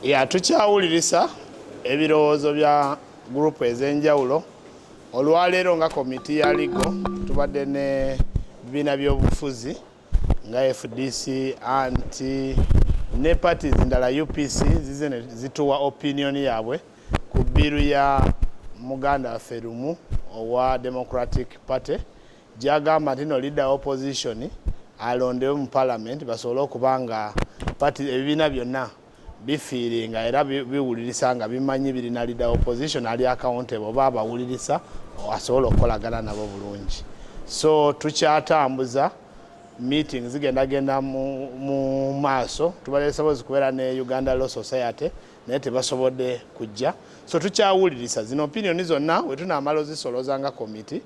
ya tukyawulirisa ebirowoozo bya gurupu ez'enjawulo olwaleero nga komiti ya ligo tubadde ne bibiina by'obufuzi nga fdc anti ne parties ndala upc zize zituwa opinion yaabwe ku bbiru ya muganda waffe lumu owa democratic party gyagamba nti no leader opposition alondewe mu parliament basobole okuba nga pati ebibiina byonna bifiiringa era biwulirisa nga bimanyi birina leader opposition ali accountable oba abawulirisa asobola okukolagana nabo bulungi so tukyatambuza meeting zigenda genda mu maaso tubadde tusobozi kubeera ne uganda law society naye tebasobodde kujja so tukyawulirisa zino opinioni zonna wetunaamala ozisoloza nga komiti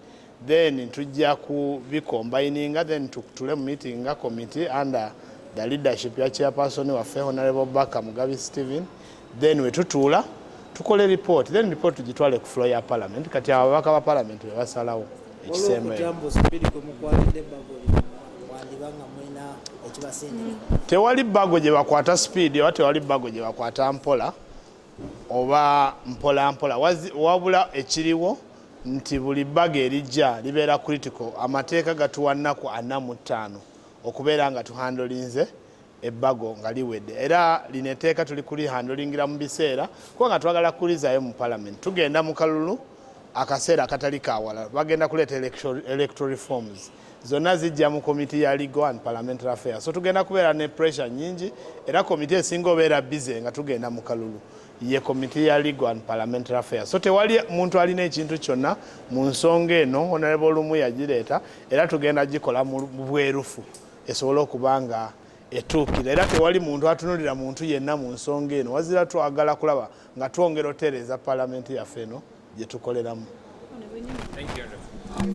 then tujja ku bi combininga then tukutule mu meeting nga committee under the leadership ya chairperson waffe honorable baka mugabi steven then wetutuula tukole report then report tugitwale ku floor ya parliament kati abo ababaka ba parliament bebasalawo tewali bago gye bakwata speed oba tewali bago gye bakwata mpola oba mpolampola wabula ekiriwo nti buli bbaga erijja libeera critical. Amateeka gatuwa nnaku ana mu ttaano okubeera nga tuhandolinze ebbago nga liwedde era lino etteeka tuli kulihandolingira mu biseera kuba nga twagala kulizaayo mu palamenti. Tugenda mu kalulu akaseera akatali kawala, bagenda kuleeta electoral reforms. zonna zijja mu komiti ya Legal and Parliamentary Affairs. So tugenda kubeera ne pressure nyingi era komiti esinga obeera bize nga tugenda mu kalulu ye komiti ya Legal and Parliamentary Affairs. So tewali muntu alina ekintu kyonna mu nsonga eno Honorable Olumu yagireeta era tugenda gikola mu bwerufu esobole okuba nga etuukira era tewali muntu atunulira muntu yenna mu nsonga eno wazira twagala kulaba nga twongera otereeza palamenti yaffe eno gye tukoleramu